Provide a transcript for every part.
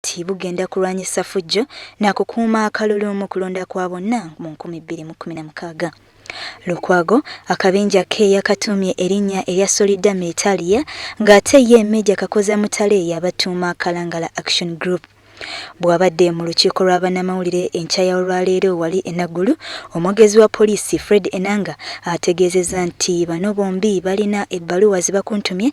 nti bugenda kulwanyisa ffujjo na kukuuma akalulu mu kulonda kwa bonna mu 2016. Lukwago akabinja ke yakatuumye erinnya erya Solidame Italia ng'ate ye Meeja Kakoza Mutale yabatuuma Kalangala Action Group. Bw'abadde mu lukiiko lwa bannamawulire enkya ya olwaleero wali e Naggulu, omwogezi wa poliisi Fred Enanga ategeezezza nti bano bombi balina ebbaluwa ze bakuntumye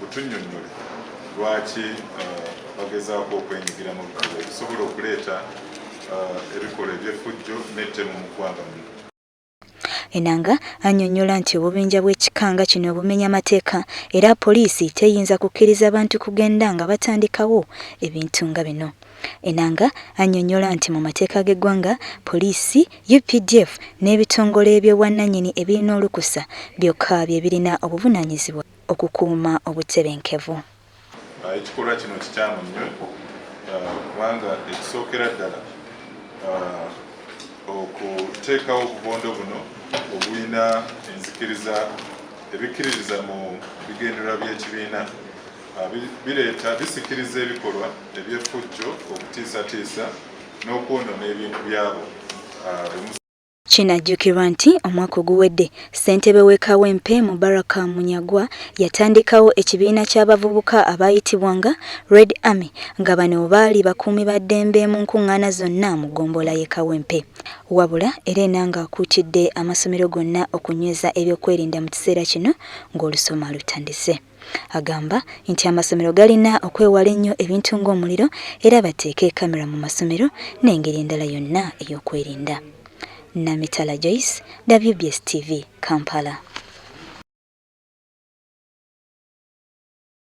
butunnyonnyole lwaki bagezaako okwenyigira mu bikolwa ebisobola okuleeta ebikolwa eby'effujjo n'ettemu mu ggwanga muno Enanga annyonnyola nti obubinja bw'ekika nga kino bumenya mateeka era poliisi teyinza kukkiriza bantu kugenda nga batandikawo ebintu nga bino. Enanga annyonnyola nti mu mateeka g'eggwanga, poliisi, updf n'ebitongole by'obwannannyini ebirina olukusa byokka bye birina obuvunaanyizibwa okukuuma obutebenkevu. Ekikolwa kino kikyamu nnyo kubanga ekisookera ddala okuteekawo obubondo buno obulina enzikiriza ebikkiririza mu bigendererwa by'ekibiina. Ah, bireeta bisikiriza ebikolwa eby'effujjo okutiisatiisa n'okwonoona ebintu byabo ah, Kinajjukirwa nti omwaka oguwedde ssentebe w'e Kawempe Mubaraka Munyagwa yatandikawo ekibiina ky'abavubuka abaayitibwanga Red Army nga bano baali bakuumi ba ddembe mu nkuŋŋaana zonna mu ggombolola y'e Kawempe. Wabula era Enanga akuutidde amasomero gonna okunyweza ebyokwerinda mu kiseera kino ng'olusoma lutandise. Agamba nti amasomero galina okwewala ennyo ebintu ng'omuliro era bateeke kamera mu masomero n'engeri endala yonna ey'okwerinda. Namitala Joyce, WBS TV, Kampala.